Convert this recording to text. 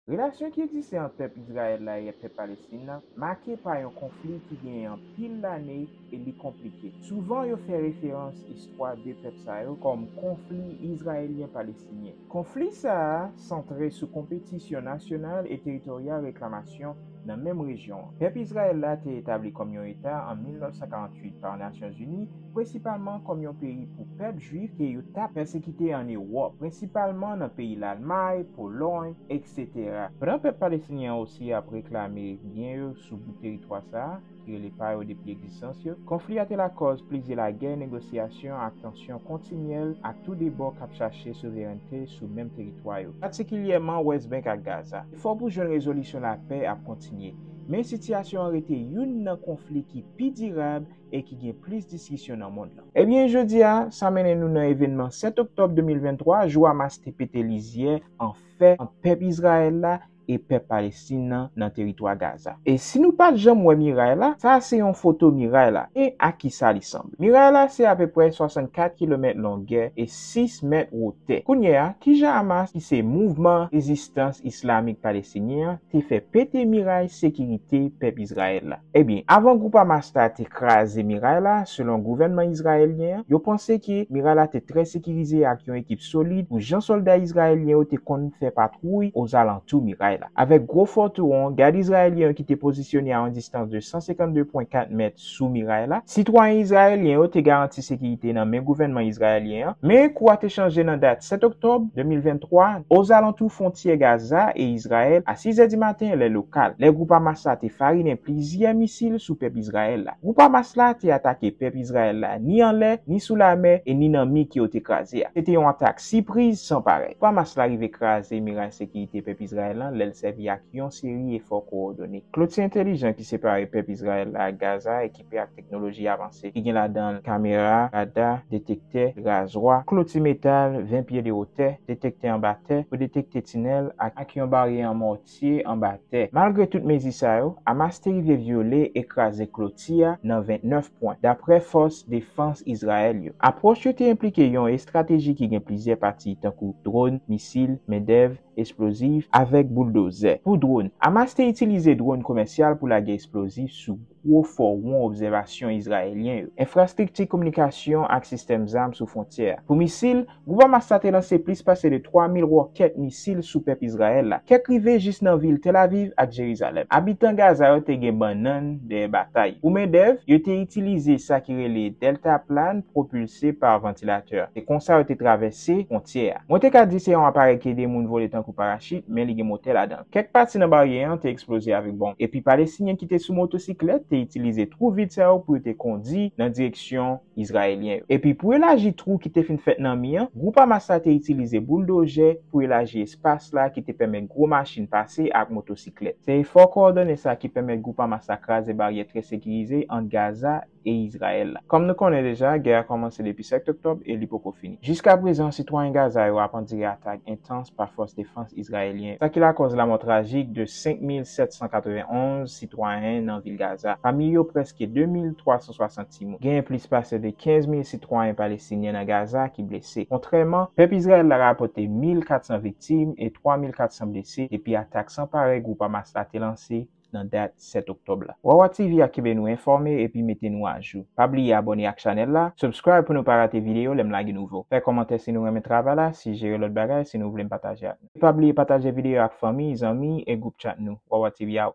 Relasyon ki egziste ant pèp Izrayèl la e pèp Palestin la make pa yon konfli ki genyen anpil lane e li konplike. Souvan yo fè referans istwa de pèp sa yo kòm konfli Izrayelyen-Palestinyen. Konfli sa a santre sou konpetisyon nasyonal e teritoryal reklamasyon, nan menm rejyon an. Pèp Izrayèl la te etabli kòm yon eta an 1948 pa Nasyonzini, prensipalman kòm yon peyi pou pèp jwif ke yo tap pèsekite an Ewòp, prensipalman nan peyi Lalmay, Polòy, etc. Pandan pèp palestinyen an osi ap reklame byen yo sou bout teritwa sa a, ki rele pa yo depi egzistans yo, konfli a te lakòz plizyè lagè, negosyasyon ak tansyon kontinyèl ak tou de bò k ap chache souverènte sou menm teritwa yo, patikilyèman West Bank ak Gaza. Efò pou jwenn rezolisyon lapè ap kontinye, men sitiyasyon an rete youn nan konfli ki pi dirab e ki gen plis diskisyon nan mond lan. Ebyen, jodi a, sa mennen nou nan evènman 7 oktòb 2023, jou Hamas te pete lizyè an fè ant pèp Izrayèl la e pèp Palestin nan nan teritwa Gaza. E si nou pat janm wè miray la, sa a se yon foto miray la e a kisa li sanble. Miray la se apeprè 64 kilomèt longè e 6 mèt wotè. Kounye a, kijan Hamas ki se Mouvman Rezistans Islamik Palestinyen an te fè pete miray sekirite pèp Izrayèl la? Ebyen, avan gwoup Hamas la te kraze miray la, selon gouvènman izrayelyen an, yo panse ke miray la te trè sekirize ak yon ekip solid pou jan sòlda izrayelyen yo te konn fè patwouy ozalantou miray la. Avèk gwo fò touwon, gad izrayelyen yo ki te pozisyone a yon distans de 152 pwen 4 mèt sou miray la, sitwayen izrayelyen yo te garanti sekirite nan men gouvènman izrayelyen an. Palestinyen an, men kou a te chanje nan dat 7 oktòb 2023, ozalantou fwontyè Gaza e Izrayèl, a sizè di maten lè lokal, lè gwoup Hamas la te farinen plizyè misil sou pèp Izrayèl la. Gwoup Hamas la te atake pèp Izrayèl la ni anlè, ni sou lamè e ni nan mi ke yo te kraze a. Se te yon atak sipriz san parèy. Gwoup Hamas la rive kraze miray sekirite pèp Izrayèl lan lè l sèvi ak yon seri efò kowòdone. Kloti entelijan ki separe pèp Izrayèl la ak Gaza e ki. ekipe ak teknoloji avanse ki gen ladan l kamera, rada, detektè, razwa, kloti metal 20 pye de wotè, detektè anba tè pou detekte tinèl ak ak yon baryè an mòtye anba tè. Malgre tout mezi sa yo, Hamas te rive vyole e kraze kloti a nan 29 pwen, dapre fòs defans Izrayèl yo. Apwòch yo te enplike yon estrateji ki gen plizyè pati tankou dron, misil, mendèv, esplozif avèk bouldozè. Pou dwòn, Hamas te itilize dwòn komèsyal pou lage esplozif sou gwo fò won obsèvasyon Izrayelyen yo, enfrastrikti kominikasyon ak sistèm zam sou fwontyè a. Pou misil, gwoup Hamas la te lanse plis pase de 3 mil wòkèt misil sou pèp Izrayèl la, kèk rive jis nan vil Tel Aviv ak Jerizalèm. Abitan Gaza yo te gen bannann dèyè batay. Pou mendèv, yo te itilize sa ki rele deltaplan pwopilse pa vantilatè. Se konsa yo te travèse fwontyè a. Mwen te ka di se yon aparèy ki ede moun vole tankou parachit, men li gen motè ladan. Kèk pati nan baryè an te eksploze avèk bonm, epi Palestinyen ki te sou motosiklèt te itilize twou vid sa yo pou yo te kondi nan direksyon Izrayelyen yo. Epi pou elaji twou ki te fin fèt nan mi an, gwoup Hamas la te itilize bouldozè pou elaji espas la ki te pèmèt gwo machin pase ak motosiklèt. Se efò kowòdone sa ki pèmèt gwoup Hamas la kraze baryè trè sekirize ant Gaza e Izrayèl la. Kòm nou konnen deja, gè a kòmanse depi 7 oktòb e li poko fini. Jiskaprezan, sitwayen Gaza yo ap andire atak entans pa fòs defans Izrayelyen yo, sa ki lakòz lamò trajik de 5,791 sitwayen nan vil Gaza, pami yo prèske 2,360 timoun. Genyen plis pase de 15 mil sitwayen Palestinyen nan Gaza ki blese. Kontrèman, pèp Izrayèl la rapòte 1,400 viktim e 3,400 blese depi atak san parèy gwoup Hamas la te lanse nan dat 7 oktòb la. Wawa TV ap kenbe nou enfòme epi mete nou ajou. Pa bliye abòne ak chanèl la, subscribe pou nou pa rate videyo lè m lage nouvo. Fè kòmantè si nou renmen travay la, sijere lòt bagay si nou vle m pataje ak nou. Pa bliye pataje videyo ak fanmi, zanmi e gwoup chat nou. Wawa TV out.